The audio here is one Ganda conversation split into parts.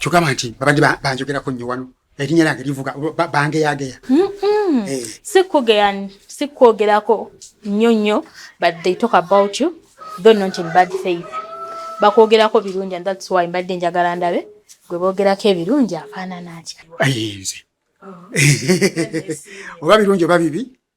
kyogamba nti babadde banjogerako nnyo wano erinnya lyange livuga bangeyageya eh. sikwogerako nnyo nnyo but they talk about you though not in bad faith bakwogerako birungi and thats why mbadde njagala ndabe gwe boogerako ebirungi afaanana atya ayinze oba birungi oba bibi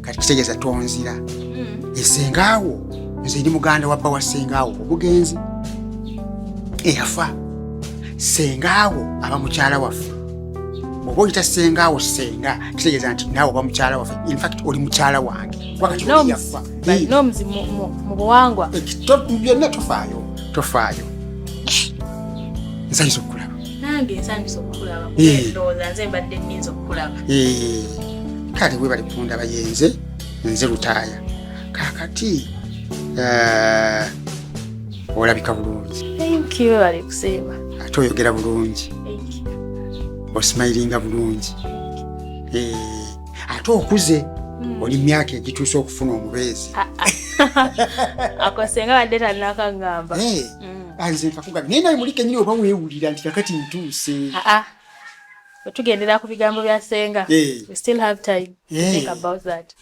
kati kitegeeza tonzira hmm. esengaawo nze ndi muganda wabba wa sengaawo obugenzi eyafa sengaawo aba mukyala waffe oba oyita sengaawo senga kitegeeza nti naawe oba mukyala waffe infact oli mukyala wange wakatiyafa byonna tofaayo tofaayo nsanyisa okulaba nange nsanyusa okukulaba kubendooza nze mbadde nyinza okukulaba kale webali kundaba yenze nze lutaaya kakati eh, olabika bulungi webali kusiima ate oyogera bulungi osimayiringa bulungi eh, ate okuze hmm. oli myaka egituuse okufuna omubeezi akosenga badde tanakagamba eh. mm. anze nkakuga naye naye mulike nyini oba wewulira nti kakati ntuuse ah, ah. tugendera ku bigambo bya senga eh.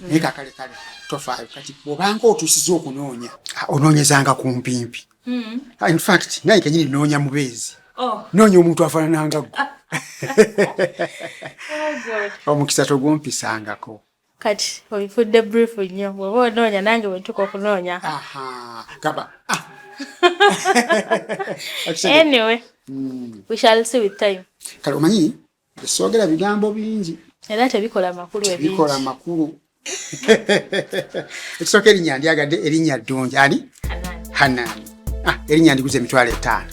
naye kakale kale tofaayo kati obanga otuusiza okunoonya ah, onoonyezanga ku mpimpi mm. infact naye kenyini noonya mubeezi oh. noonya omuntu afaanananga gwe oh, omukisa togumpisangako kati obifudde brief nnyo bwoba onoonya nange bwetuka okunoonya kaba ah. anyway mm. we shall see with time kale omanyi esoogera bigambo bingi era tebikola makulu ebikola makulu ekisooka erinnya ndyagadde erinnya ddungi ani hanani ah, erinnya ndiguza emitwalo etaano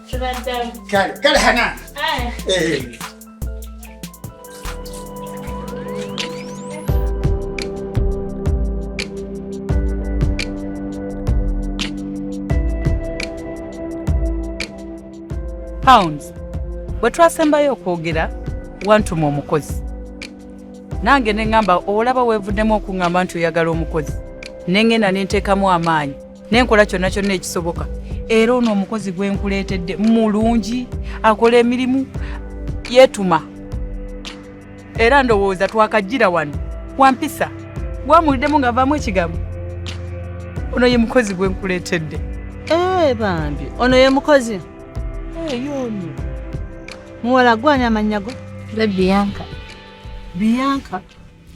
Kale, kale Hanan. Haya. Eh. Pounds. Bwe twasembayo okwogera wantuma omukozi nange ne ŋŋamba olaba weevuddemu okuŋŋamba nti oyagala omukozi ne ŋŋenda ne nteekamu amaanyi ne nkola kyonna kyonna ekisoboka era ono omukozi gwe nkuleetedde mulungi akola emirimu yeetuma era ndowooza twakajjira wano wampisa bwamuliddemu ng'avaamu ekigambo ono ye mukozi gwe nkuleetedde ee eh, bambi ono ye mukozi eh, yono muwala gwani amannya go le biyanka biyanka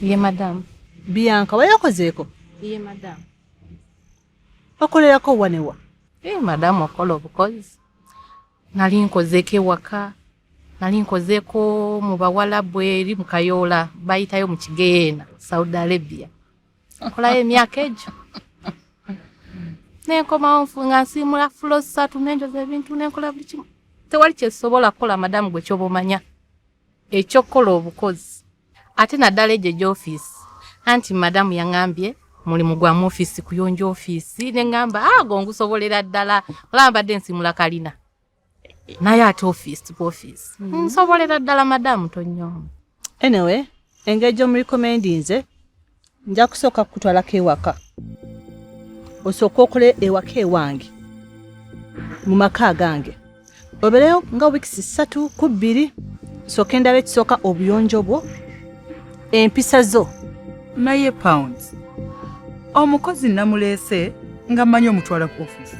ye madamu biyanka wayakozeeko ye madamu bakolerako wanewa eh, madamu okola obukozi nali nkozeeko ewaka nali nkozeeko mu bawalabu eri mu kayoola bayitayo mu kigeyeena saudi arabia nkolayo emyaka egyo nenkomawo nfunga nsiimula fulo satu nenjoza ebintu nenkola buli kimu tewali kyesobola kukola madamu gwe kyoba omanya eky'okukola obukozi ate naddala egyo egy'ofiisi anti madamu yang'ambye mulimu gwa mu ofiisi kuyonja ofiisi ne ng'amba ago ah, ngusobolera ddala olaba mbadde nsimula kalina naye ate ofiisi ku ofiisi mm-hmm. nsobolera ddala madamu tonyoma anyway engeri gy'omurekomendinze nja kusooka kukutwalako ewaka osooka okole ewaka ewange mu maka agange obereyo nga wiikisi ssatu ku bbiri sooka endaba ekisooka obuyonjo bwo empisa zo naye pounds omukozi namuleese nga mmanyi omutwala ku ofiisi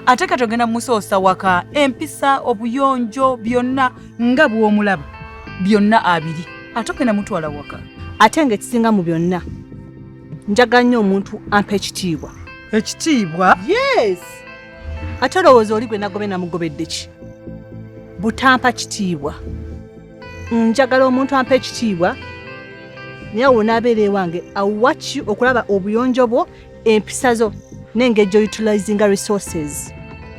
ate kati ogenda musoosa waka empisa obuyonjo byonna nga bw'omulaba byonna abiri ate okenda mutwala waka ate nga ekisinga mu byonna njagala nnyo omuntu ampa ekitiibwa ekitiibwa yes ate olowooza oli gwe nagobe namugobedde ki butampa kitiibwa njagala omuntu ampa ekitiibwa naye awo naabeera ewange awaki okulaba obuyonjo bwo empisa zo n'engeri gy'outilizinga resources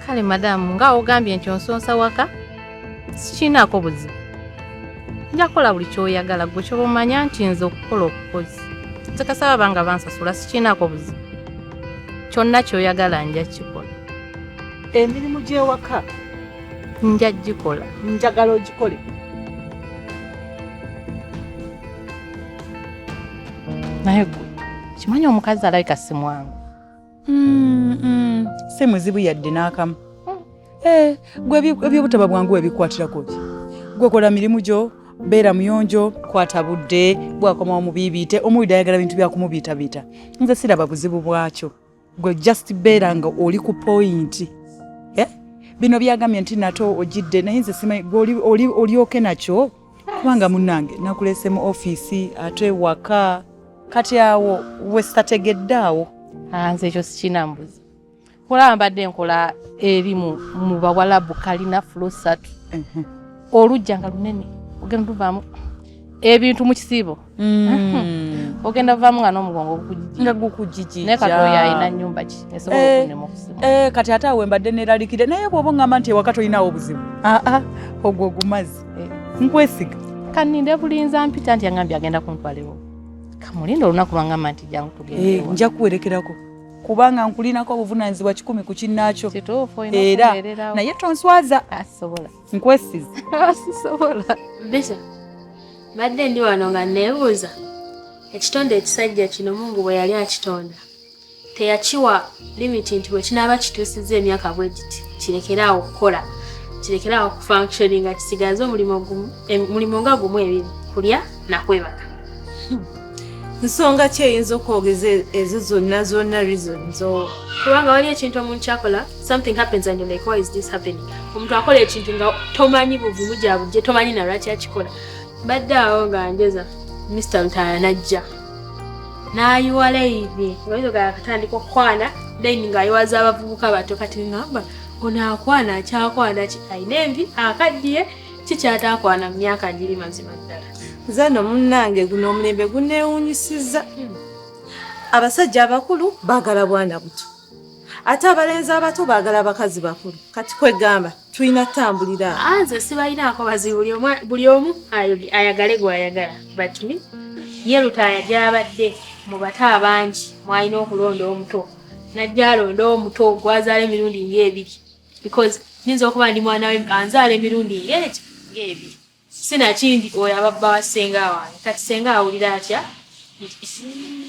kale madamu nga ogambye nti onsonsa waka sikiinaako buzibu nja kukola buli kyoyagala gwe kyoba omanya nti nze okukola okukozi nsekasaba banga bansasula sikiinaako buzibu kyonna kyoyagala nja kikola emirimu gy'ewaka nja gikola njagala ogikole naye gwe Kimanyi omukazi alabika si mwangu. Mm, mm. Si muzibu yadde n'akamu. Mm. Eh, gwe eby'obutaba bwangu ebikwatirako ki? Gwe kola mirimu gyo, beera muyonjo, kwata budde, bwakomawo mubiibiite, omuwida ayagala bintu bya kumubiitabiita. Nze siraba buzibu bwakyo. gwe just beera nga oli ku pointi eh? bino byagambye nti nate ojidde naye nze simanyi olyoke nakyo kubanga munange nakulese mu ofiisi ate waka kati awo wesitategedde awo ah, nze ekyo sikinambuzi kulaba mbadde nkola erimu mu bawalabu kalina fulo satu olujja nga lunene ogenda luvaamu ebintu mu kisiibo Mm. ogenda vamu nga nomugongo nga gukujiji naye kati oyo alina nyumba ki esobola eh, okunyuma okusima eh, kati ate awe mbadde neralikire naye bwoba ngamba nti ewaka tolinawo obuzibu aa ah, ah, ogwo ogumazi eh. nkwesiga kaninde bulinza mpita nti yangambye agenda kuntwalewo kamulinda olunaku lwangamba nti jangu tugende nja kuwerekerako kubanga nkulinako obuvunanyizibwa kikumi ku kinnaakyo era naye tonswaza asobola nkwesiza sisobola bisa badde ndi wano nga neebuuza ekitonde ekisajja kino mungu bwe yali akitonda teyakiwa limiti nti bwekinaaba kituusizza emyaka bwe giti kirekeraawo okukola kirekeraawo okufunctioni nga kisigaze omulimu nga gumu ebiri kulya nakwebaka nsonga ki eyinza okwogeza ezo zonna zonna reasons kubanga wali ekintu omuntu kyakola something happens and like why is this happening omuntu akola ekintu nga tomanyi buvumu gyabujje tomanyi nalwaki akikola badde awo nga njeza mr lutaya najja nayiwa laini oizoga akatandika okukwana laini ngaayiwaza abavubuka bato kati ngamba onaakwana akyakwana ki ayina envi akaddiye kikyataakwana mu myaka giri mazima ddala nze no munnange guno omulembe guneewunyisiza hmm. abasajja abakulu baagala bwana buto ate abalenzi abato baagala abakazi bakulu kati kwegamba tulina tambulira ah, nze sibalinaako bazi buli omu ayagale gwayagala but me ye lutaaya gyabadde mu bato abangi mwalina okulonda omuto najja alonda omuto gwazaala emirundi ngaebiri because nyinza okuba ndi mwana we anzaala emirundi ng'egyo ng'ebi sinakindi oyo ababba wa ssenga wange kati ssenga awulira atya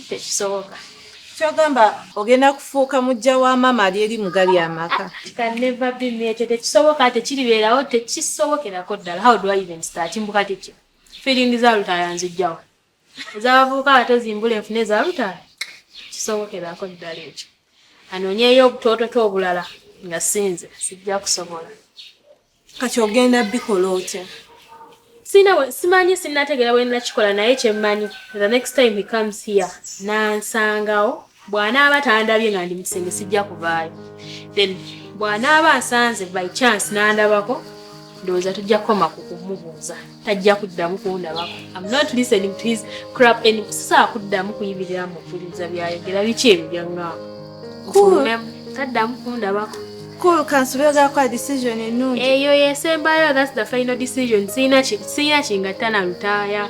tekisoboka kyogamba ogenda kufuuka mujja wa maama ali eri mugali amaka ekyo tekisoboka tekiribeerawo tekisobokerako ddala how do i even start mbuka kikyo feeling za lutayanzijjawo ez'abavubuka abato zimbula enfuna ezalutaala kisobokerako ddala ekyo anoonyeyo obutoototo obulala nga sinze sijja kusobola kati ogenda bikola otya simanyi sinategeera bwenakikola naye kyemmanyi the next time he comes here nansangawo bw'anaaba tandabye nga ndi mu kisenge sijja kuvaayo then bw'anaaba nsanze by chance n'andabako ndowooza tujja kukoma ku kumubuuza tajja kuddamu kundabako am not listening to his crap and sisaa kuddamu kuyimirira mu kuwuliriza byayogera biki ebyo byaŋŋaako kufulumemu taddamu kundabako cool kansi byogera kwa decision ennungi eyo yesembayo that's the final decision siyina kingatta na lutaaya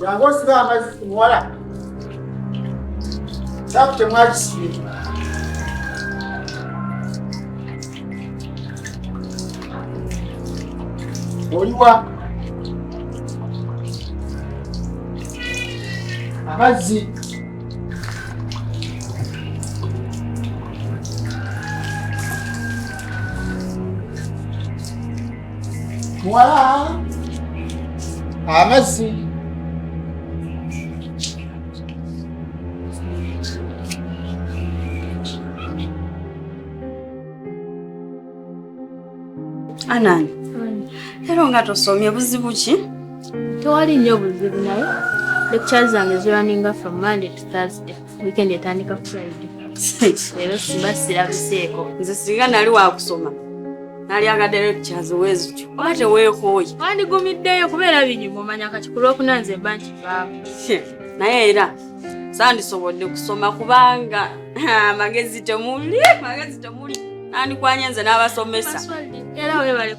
Jangu osibe amazzi ku muwala. Sabu temwakisibe. Oliwa amazzi muwala amazzi anani era nga tosomye buzibu ki tewali nnyo buzibu naye lecture zange ziraninga from monday to thursday Weekend etandika ku Friday. Leero simba sirabiseeko. Nze singa nali wakusoma nalyagaddeyo ekikyazi wezityo oba teweekooye wandigumiddeyo kubeera binyuma omanya kati ku lwokuna nze mba nkivaamu naye era sandisobodde kusoma kubanga amagezi temuli magezi temuli nandikwanye nze n'abasomesa era webale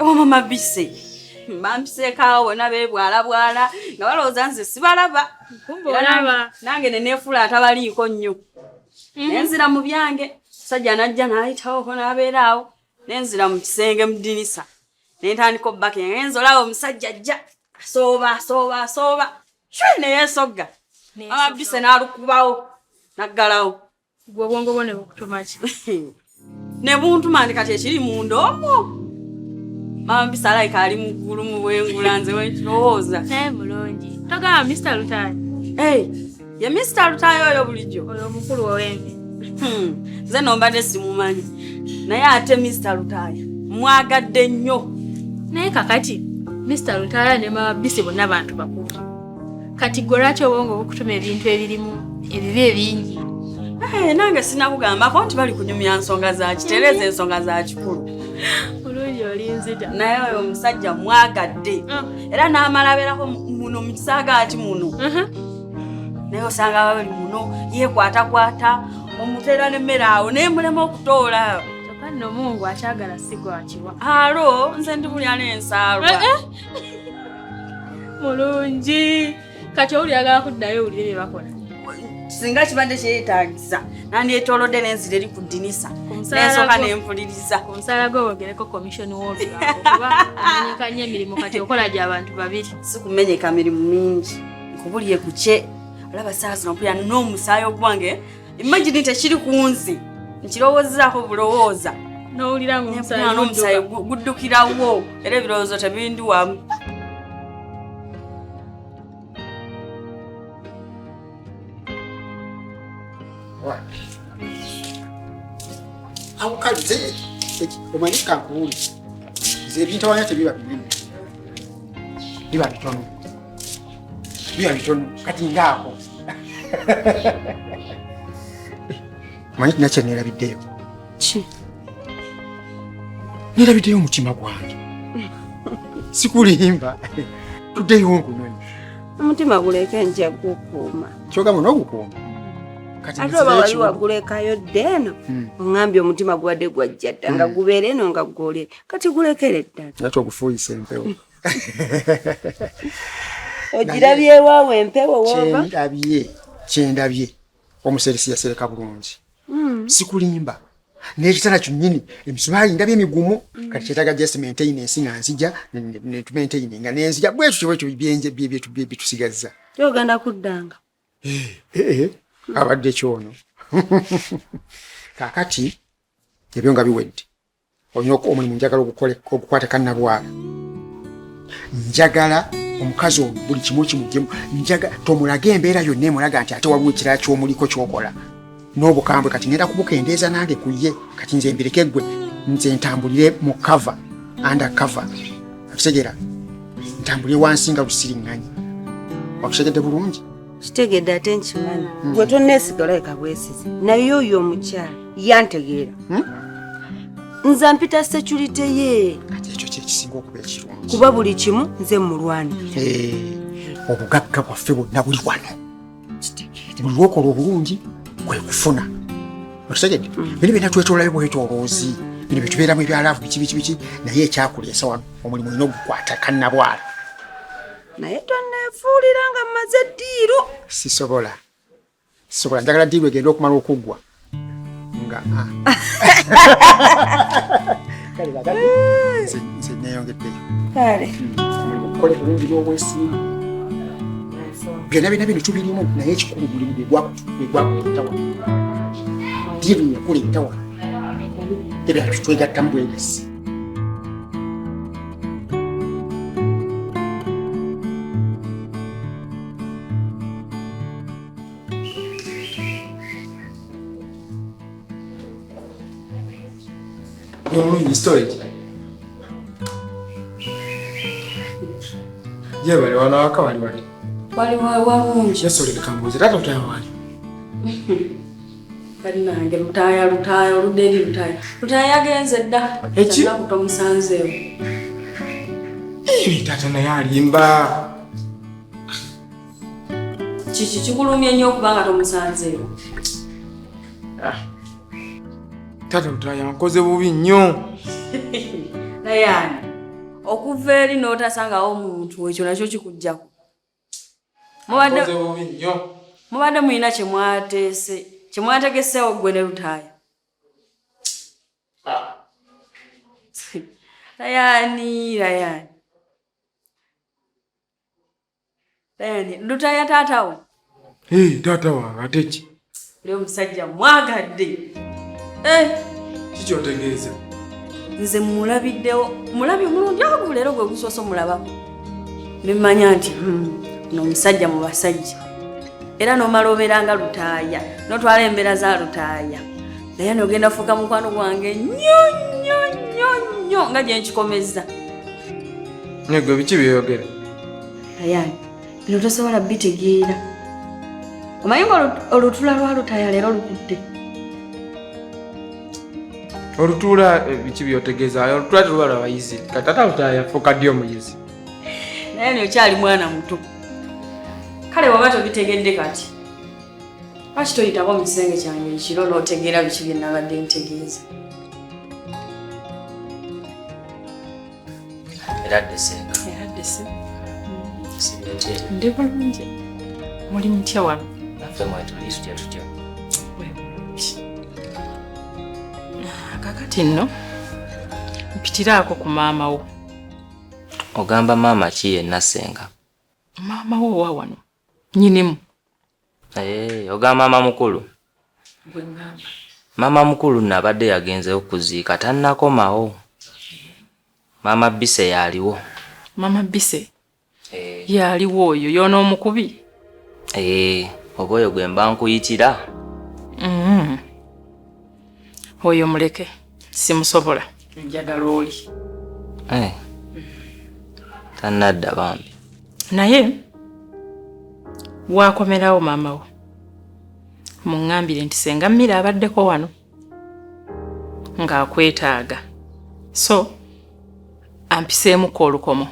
oba mama bise bampiseekaawo bona beebwalabwala nga balowooza nze sibalaba nange neneefuula atabaliiko nnyo mhm. nenzira mu byange musajja najja naayitawoko n'abeera awo nenzira mu kisenge mu dinisa nentandika obbaka yange nze olaba omusajja ajja asooba asooba asooba shwe neyeesogga amabise n'alukubawo naggalawo Gwe obwongo bwo ne bukutuma ki? Ne buntuma ndi kati ekiri mu ndoomo. Maama Mpisa alayika ali mu ggulu mu bwengula nze wekirowooza. Naye mulungi. Togamba Mr Lutaaya. Hey, ye Mr Lutaaya oyo bulijjo. Oyo omukulu ow'embi. Hmm, nze no mbadde simumanyi. Naye ate Mr Lutaaya mwagadde nnyo. Naye kakati Mr Lutaaya ne Maama Mpisa bonna bantu bakulu. kati gwe lwaki obwongo bukutuma ebintu ebirimu ebibi ebingi eh, nange sinakugambako nti bali kunyumya nsonga zakitereeza ensonga za kikulu olungi olinzita naye oyo omusajja mwagadde ah. era n'amala abeerako muno mu kisaagaati muno uh-huh. naye osanga babali muno yekwatakwata omuteera nemmere awo naye mulema okutoola kyokka nno mungu akyagala sigwakiwa alo nze ndi mulya n'ensaalwa eh, eh. mulungi kati owulira agala kuddayo owulire bye bakola singa kibadde kyeyetaagisa nandyetolodde nenzira eri ku ddinisa nensooka nempuliriza omusaala gwe wogereko komishoni wolubaamenyeka nyo emirimu kati okola gya bantu babiri si kumenyeka mirimu mingi nkubulye kukye olaba saa zino mpulira n'omusaayi ogwange imagine tekiri kunzi nkirowozaako bulowooza nowulira ngomusayi guddukirawo era ebirowoozo tebindiwamu awukaze omanyi kankuwuli nze ebintawanya tebiba binene biba bitono Bia bitono kati ngaako. Manyi tina kye neerabiddeyo. Ki? Neerabiddeyo omutima gwange. Sikulimba. Tuddeyo nkunoni. Omutima guleeka nja gukuuma. Kyogamba n'ogukuuma? ate oba wali wagulekayo dda eno hmm. oŋambye omutima gubadde gwajja dda nga hmm. gubeera eno nga gule kati gulekere ddala ate ogufuuyisa empewo ogirabye waawo empewo wova kyendabye kyendabye omuseresi yasereka bulungi hmm. sikulimba n'ekitala kyonyini emisubaali ndabye migumu hmm. kati kyetaga just maintenance nga nzija netumaintaini nga nenzija bwekyo kyobwekyo byenje byetusigazza kyogenda kuddanga eh, eh, eh. abadde kyono kakati ebyo nga biwedde olina omulimu njagala okukwata kannabwala njagala omukazi omu buli kimu kimujemu njaga tomulaga embeera yonna emulaga nti ate waliwo ekirala kyomuliko kyokola n'obukambwe kati ngenda kubukendeeza nange ku ye kati nze mbireke gwe nze ntambulire mu kava anda kava akitegera ntambulire wansi nga lusiriŋŋanyi wakitegedde bulungi kitegedde ate nkimanyi hmm. gwe tonneesigala eka bwesizi naye oyo omukyala yantegeera hmm? nza mpita securite ye kati ekyo kyekisinga okuba ekirungi kuba buli kimu nze mulwani eh, obugagga bwaffe bwonna buli wano buli wokola obulungi kwe kufuna okitegedde hmm. bino byona twetolayo bwetoloozi bino byetubeeramu ebyalaavu biki biki biki naye ekyakuleesa wano omulimu olina ogukwata kannabwala naye tonneefuulira nga mmaze ddiiru sisobola sisobola njagala ddiiru egenda okumala okuggwa nga ah. kale bagati nze neeyongeddeyo kale omulimu bulungi n'obwesimbu byonna byonna bino tubirimu naye ekikulu mulimu gwegwakutawa ddiiru yakula entawa ebyo twegattamu bwegasi Nunui storage. Je, bali wanawaka wali wali? Wali wali wali. Yesu leka mbuzi, tata utayo wali. Bannange lutaaya lutaaya oludde eri lutaaya lutaaya yagenze dda ekinaku tomusanzeewo taata naye alimba kiki kikulumye nnyo okuba nga tomusanzeewo ah. taata lutaaya nkoze bubi nnyo naye ani okuva eri n'otasangawo omuntu ekyo nakyo kikugjaku mubadde bubi nnyo mubadde mulina kye mwateese kye mwategeseewo ggwe ne lutaaya ah. layani layani layani lutaaya taata wo taata wange ate ki Leo musajja mwagadde. Eh, kiki otegeeza? Nze mulabiddewo mulabi omulungi agu leero gwe gusoose omulabako ne mmanya nti hmm, no musajja mu basajja era n'omala obeera nga lutaaya n'otwala embeera za lutaaya naye nogenda fuuka mukwano gwange nnyo nnyo nnyo nnyo nga gye nkikomezza. Negwe biki byeyogera? Ayani. bino tosobola bitegeera omanyi nga olutula lwalutaya leero lukudde olutuula eh, biki byotegeeza olutuula teluba lwabayizi katata lutaya yafuuka ddi omuyizi naye ni okyali mwana muto kale waba tobitegedde kati lwaki toyitako mu kisenge kyange ekiro n'otegeera biki bye nabadde ntegeeza era desenga era dese ndi bulungi muli mutya wano naffe mwetuli tutya tutya kakati nno mpitiraako ku maama wo ogamba maama ki yenna senga maama wo owa wano nyinimu Hey, oga mama mukulu mama mukulu nabadde yagenzeyo kuziika tannakomawo mama bise yaliwo mama bise hey. Eh. yaliwo oyo yona omukubi hey, eh, oba oyo gwe mba nkuyitira mm -hmm. oyo muleke simusobola njagala oli eh. tanadda bambi naye wakomerawo maama wo muŋambire nti senga mmira abaddeko wano ng'akwetaaga so ampiseemuko olukomo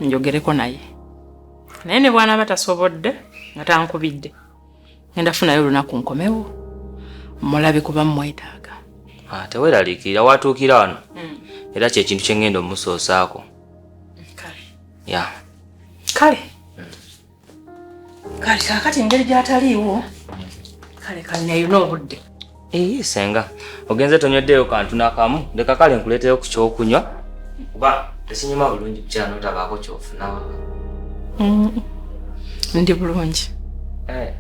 njogereko naye naye ne bwanaaba tasobodde nga tankubidde ngenda funayo olunaku nkomewo mulabe kuba mumwetaaga ah, teweraliikirira watuukira wano hmm. era kyekintu kyengenda omusoosaako ya kale kale kakati engeri gyataliiwo kale kale naye nobudde Eyi eh, senga ogenze tonyweddeyo kantu nakamu leka kale nkuleeteyo ku kyokunywa kuba tekinyuma bulungi kukyala notabaako kyofuna mm. ndi bulungi eh.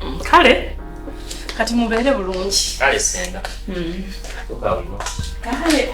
mm. kale kati mubeere bulungi kale senga mm. kale